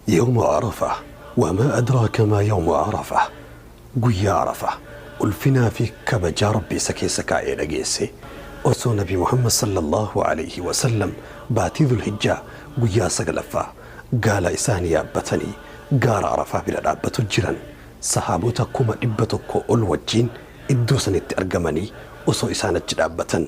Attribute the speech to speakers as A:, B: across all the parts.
A: Yawma Arafah Wa maa adraaka maa yawmu Arafah Guyyaa Arafah Ulfinaa fi kabajaa Rabbi isa keessa kaa'e dhageesse Osoo Nabi Muhammad Sallallaahu Aleeyhi Wasallam Baatii Dhul-Hijjaa Guyyaa 9ffaa Gaala isaanii yaabbatanii Gaara Arafah bira dhaabbatu jiran Sahaabota 100,000 ol wajjiin iddoo sanitti argamanii osoo isaan achi dhaabbatan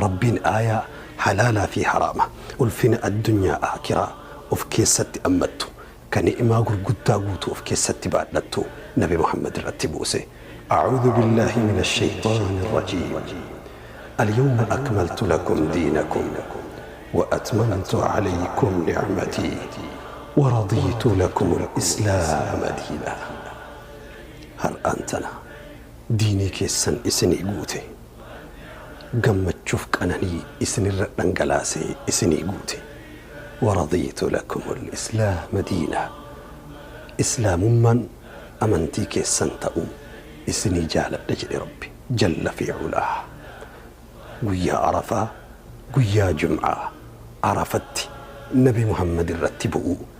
A: Rabbiin aayaa halaalaa fii haraama, ulfina addunyaa aakhiraa of keessatti ammattu, ka ni'maa gurguddaa guutuu of keessatti baadhattu nabi Muhammad irratti buuse. A'uuzu billaahi mina sheyxaani rajiim. Alyawma akmaltu lakum diinakum wa atmamtu aleykum nicmatii wa radiitu lakumul islaama diinaa. Har'aan tana. diinii keessan isinii guute, gammachuuf qananii isinirra dhangalaasee isinii guute. waradiitu lakumul islaama diinaa Islaamummaan amantii keessan ta'uu isinii jaaladhe jedhe Rabbi jalla fi ulaah. Guyyaa Arafaa, Guyyaa Jum'aa, Arafatti Nabi Muhammad irratti bu'uu.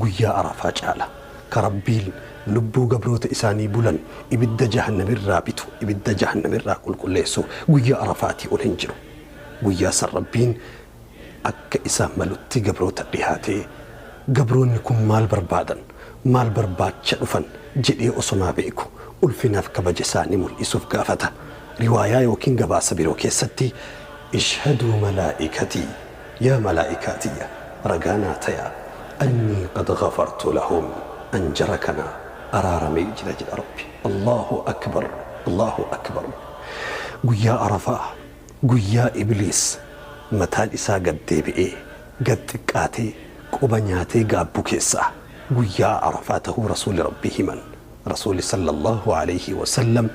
A: Guyyaa Arafaa caala ka Rabbiin lubbuu gabroota Isaanii bulan ibidda jahannamirraa bitu, ibidda jahannamirraa qulqulleessu, guyyaa Arafaatii ol hin jiru. Guyyaa san Rabbiin akka Isaaf malutti gabroota dhihaatee, gabroonni kun maal barbaadan, maal barbaacha dhufan jedhee osomaa beeku, ulfinaaf kabaja Isaanii mul'isuuf gaafata. Riwaayaa ykn gabaasa biroo keessatti, Ishhaduu malaa'ikatii. Yaa malaa'ikaa tiyya ragaa naa tayaa annii qad ghafartu lahum an jara kana araaramee jira jedha Rabbi. Allaahu akbar Allaahu akbar Guyyaa Arafaa guyyaa ibliis mataan isaa gad deebi'ee gad xiqqaatee quba nyaatee gaabbu keessaa guyyaa Arafaa tahuu Rasuuli Rabbii himan. Rasuuli sallallaahu aleyhi wa sallam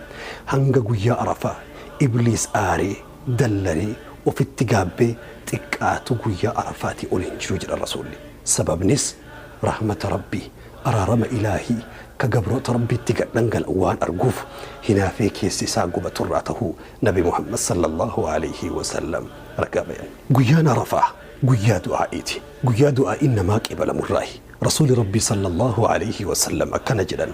A: hanga guyyaa Arafaa ibliis aaree dallanee ofitti gaabbee xiqqaatu guyyaa Arafaatii ol hin jiru jedhan Rasuulli. Sababnis rahmata Rabbii, araarama Ilaahii, ka gabroota Rabbiitti gad dhangala'u waan arguuf hinaafee keessi isaa gubatu irraa tahuu Nabi Muhammad sallallaahu aleyhi wa sallam ragaa bayan. Guyyaan Arafaa guyyaa du'aa'iiti. Guyyaa du'aa'iin namaa qeebalamu irraahi. Rasuuli Rabbii sallallaahu aleyhi wa sallam akkana jedhan,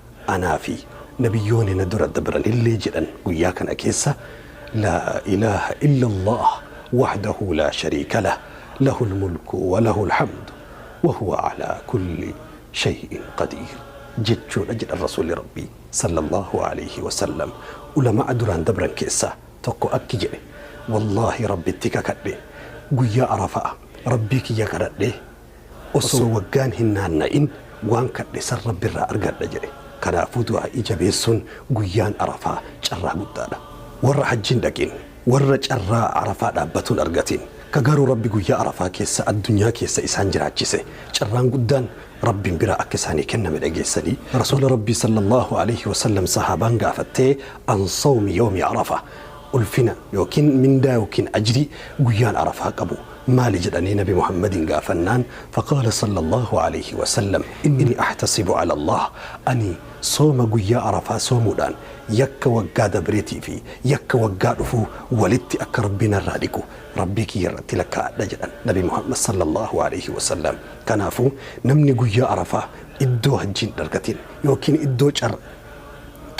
A: Anaa fi Nabiyyooni na dura dabranillee jedhan guyyaa kana keessa, Laa ilaaha illallaah wahdahu laa shariika lah, lahul mulku wa lahul hamdu wa huwa alaa kulli shay'in qadiir jechuudha jedhan Rasuulli Rabbii, sallallaahu aleeyhi wasallam. Ulama'a duraan dabran keessaa tokko akki jedhe, Wallaahi Rabbitti kakadhe, guyyaa Arafa'a Rabbii kiyya kadhadhee Osoo waggaan hin naanna'in waan kadhe san Rabbi irraa argadha jedhe. Kanaafuu du'aa'ii jabeessuun guyyaan Arafaa carraa guddaadha. Warra hajji hin dhaqin, warra carraa Arafaa dhaabbatu hin argatin, ka garuu Rabbi guyyaa Arafaa keessa addunyaa keessa isaan jiraachise, carraan guddaan Rabbiin biraa akka isaanii kenname dhageessanii? Rasuula Rabbii sallallaahu aleyhi wa sallam sahaabaan gaafattee, An sawmi yawmi Arafah, Ulfina ykn mindaa ykn ajrii guyyaan Arafaa qabu maali jedhanii Nabi Muhammadiin gaafannaan, faqaala sallallaahu aleeyhi wasallam, innii ahtasibu alallaah, ani sooma guyyaa Arafaa soomuudhaan yakka waggaa dabreetii fi yakka waggaa dhufuu walitti akka Rabbi narraa dhiqu Rabbii kiyya irratti lakkaa'adha jedhan Nabi Muhammad sallallaahu aleeyhi wasallam. Kanaafuu namni guyyaa Arafaa iddoo hajjiin hin argatin ykn iddoo car.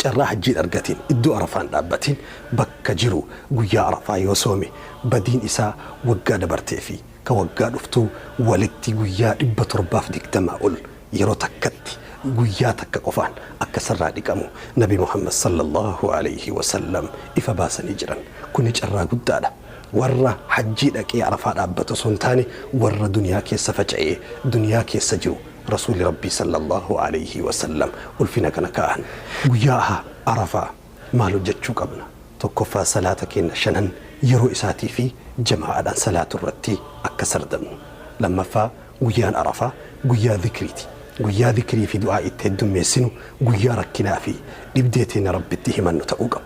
A: carraa hajjii hin argatiin iddoo arafaa hin dhaabbatiin bakka jiru guyyaa arafaa yoo soome badiin isaa waggaa dabartee fi ka waggaa dhuftuu walitti guyyaa 720 ol yeroo takkatti guyyaa takka qofaan akka isarraa dhiqamu nabi muhammad sallallaahu aleyhi wasallam ifa baasanii jiran kuni carraa guddaadha warra hajjii dhaqee arafaa dhaabbatu osoo hin taane warra duniyaa keessa faca'ee duniyaa keessa jiru Rasuulli Rabbii sallallaahu aleeyhi wasallam ulfina kana kaa'an. Guyyaa Arafaa maal hojjachuu qabna? 1ffaa Salaata keenna shanan yeroo isaatii fi jamaa'aadhaan salaatu irratti akka sardamnu. 2ffaa Guyyaan Arafaa guyyaa zikriiti. Guyyaa zikrii fi du'aa'i itti heddummeessinu, guyyaa rakkinaa fi dhibdee teenna Rabbitti himannu ta'uu qaba.